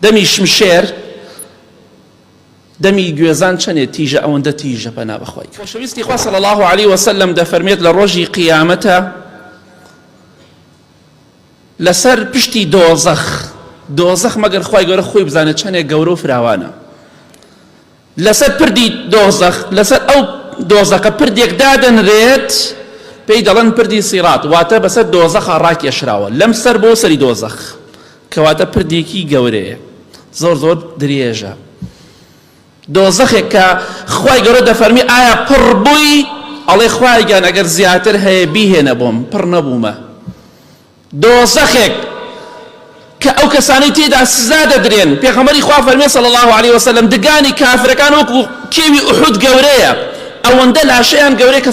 دەمی شمشێر دەمی گوێزان چەنێ تیژە ئەوەندە تیژە پەنا بەخوای خۆشەویستی خوا صلی الله علیه وسلم دەفەرمێت لە ڕۆژی قیامەتە لەسەر پشتی دۆزەخ دۆزەخ مەگەر خی گەورە خۆی بزانێت چەندێک گەورە و فراوانە لەسەر پردی دۆزەخ، لەسەر ئەو دۆزەخە پردێک دادەنرێت پێی دەڵێن پردی سیڕات، واتە بەسەر دۆزەخا ڕاکێشراوە، لەم سەر بۆ سەری دۆزەخ، کەواتە پردێکی گەورەیە، زۆر زۆر درێژە. دۆزەخێک کە خوای گەورە دەفەرمی ئایا پڕ بووی؟ ئەڵێ خوایە گیان ئەگەر زیاتر هەیە بیهێنە بۆم، پڕ نەبوومە. دۆزەخێک کە ئەو کەسانەی تێیدا سزا دەدرێن، پێغەمبەری خوا فەرمێ صلی اللە علیە وسلم، دگانی کافرەکان وەکو کێوی ئوحود گەورەیە، ئەوەندە لاشەیان گەورەیە کە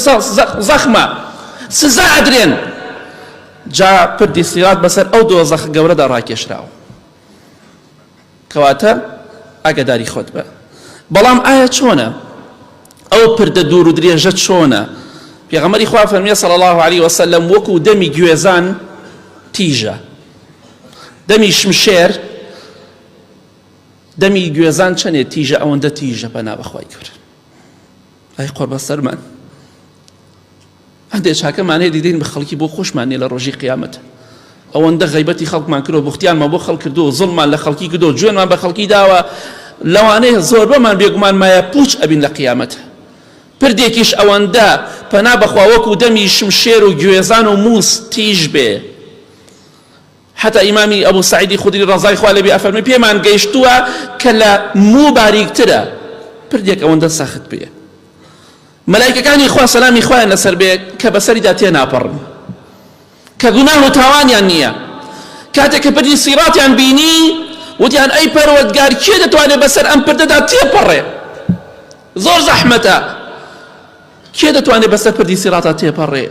زەخمە، سزا ئەدرێن، جا پردی صیراط بەسەر ئەو دۆزەخە گەورەدا ڕاکێشراوە. کەواتە ئاگاداری خۆت بە. بەڵام ئایا چۆنە؟ ئەو پردە دوور و درێژە چۆنە؟ پێغەمبەری خوا فەرمیێ صلی الله علیه وسلم وەکو دەمی گوێزان تیژە دەمی شمشێر دەمی گوێزان چەنێ تیژە ئەوەندە تیژە پەنا بەخوای گەورە ئەی قۆربەسەرمان هەندێ چاکە مانێ دیدین بە خەڵکی بۆ خۆشمان نیە لە ڕۆژی قیامەت ئەوەندە غیبەتی خەڵکمان کرۆ بوختیانمان بۆ خەڵ کردو زڵمان لە خەڵکی کردو جوێنمان بە خەڵکی داوە لەوانەیە زۆر بەمان بێگومان مایە پوچ ئەبین لە قیامەت پردێکیش ئەوەندە پەنا بەخوا وەکو دەمی شمشێر و گوێزان و موس تیژ بێ حتا ئیمامی ئەبوو سعیدی خودری ڕزای خوا لەبێ ئەفەرمی پێمان گەیشتووە کە لە موو باریکترە پردێک ئەوەندە سەخت بێ مەلایکەکانی خوا سەلامی خوایان لەسەر بێت کە بەسەریدا تێناپەڕن کە گوناه و تاوانیان نییە کاتێک کە پردی سیڕاتیان بینی وتیان ئەی پەروەردگار کێ دەتوانێت بەسەر ئەم پردەدا تێپەڕێ زۆر زەحمەتە کێ دەتوانێت بەسەر پردی سیڕاتا تێپەڕێ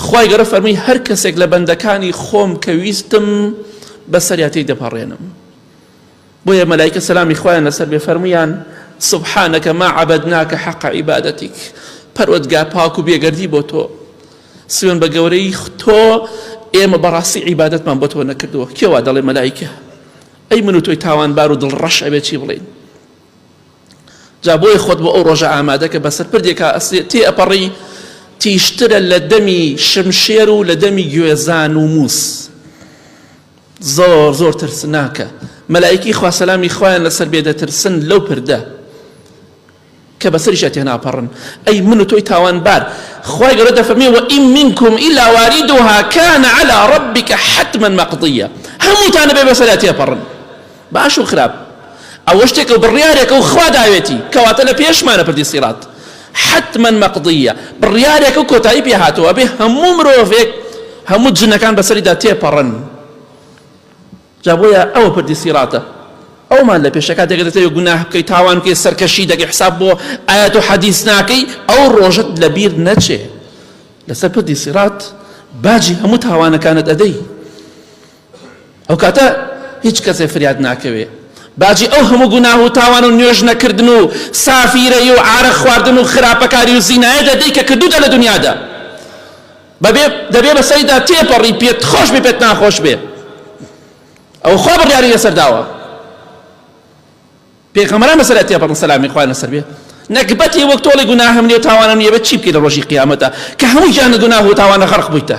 خوای گەورە فەرمووی هەر کەسێک لە بەندەکانی خۆم کە ویستم بەسەریاتی دەپەڕێنم بۆیە مەلایکە سەلامی خوایان لەسەر بێ فەرموویان، سبحانک ما عبدناک حق عبادتک، پەروەردگار پاک و بێگەردی بۆ تۆ، سوێن بە گەورەی تۆ ئێمە بەڕاستی عیبادەتمان بۆ تۆ نەکردووە، کێ وا دەڵێ مەلایکە؟ ئەی من و تۆی تاوانبار و دڵڕەش ئەبێ چی بڵێین؟ جا بۆیە خۆت بۆ ئەو ڕۆژە ئامادەکە بەسەر پردێکا تێ ئەپەڕی تیشترە لە دەمی شمشێر و لە دەمی گوێزان و مووس زۆر زۆر ترسناکە مەلائیکی خوا سەلامی خوایان لەسەر بێ دەترسن لەو پردە کە بەسەریشە تێناپەڕن ئەی من و تۆی تاوانبار خوای گەورە دەفەرمێ وئیم منکم ئیلا واریدها کان علی ربک حتما مقضیە هەمووتانە بێ بەسەریا تێپەڕن باش و خراپ ئەوە شتێکە و بڕیارێکە و خوا داوێتی کەواتە لە پێشمانە پردی سیڕات حتما مەقدیە بڕیارێکە و کۆتایی پێ هاتەوە ئەبێ هەموو مرۆڤێک هەموو جنەکان بەسەریدا تێپەڕن جا بۆیە ئەوە پردی سیڕاتە ئەومان لە پێشەکە دەگە دەتەوێت گوناه بکەیت تاوان بکەیت سەرکەشی دەگە حساب بۆ ئاەت و حەدیث ناکەی ئەو ڕۆژت لە بیر نەچێ لەسەر پردی سیڕات باجی هەموو تاوانەکانت ئەدەی ئەو کاتە هیچ کەسێ فریاد ناکەوێ باجی ئەو هەموو گوناه و تاوان و نوێژ نەکردن و سافیرەی و عارەق خواردن و خراپەکاری و زینایە دەدەی کە کردوتە لە دنیادا بەبێ دەبێ بەسەریدا تێپەڕی پێت خۆش بێ پێت ناخۆش بێ ئەو خوا بڕیاری لەسەر داوە پێغەمەران لەسەر تێپەڕن سەلامی خوای لەسەر بێ نەگبەتی وەک تۆڵی گوناهەم نیە تاوانم نیە بە چی بکەیت لە ڕۆژی قیامەتە کە هەموو گیان گوناه و تاوانە غەرق بوویتە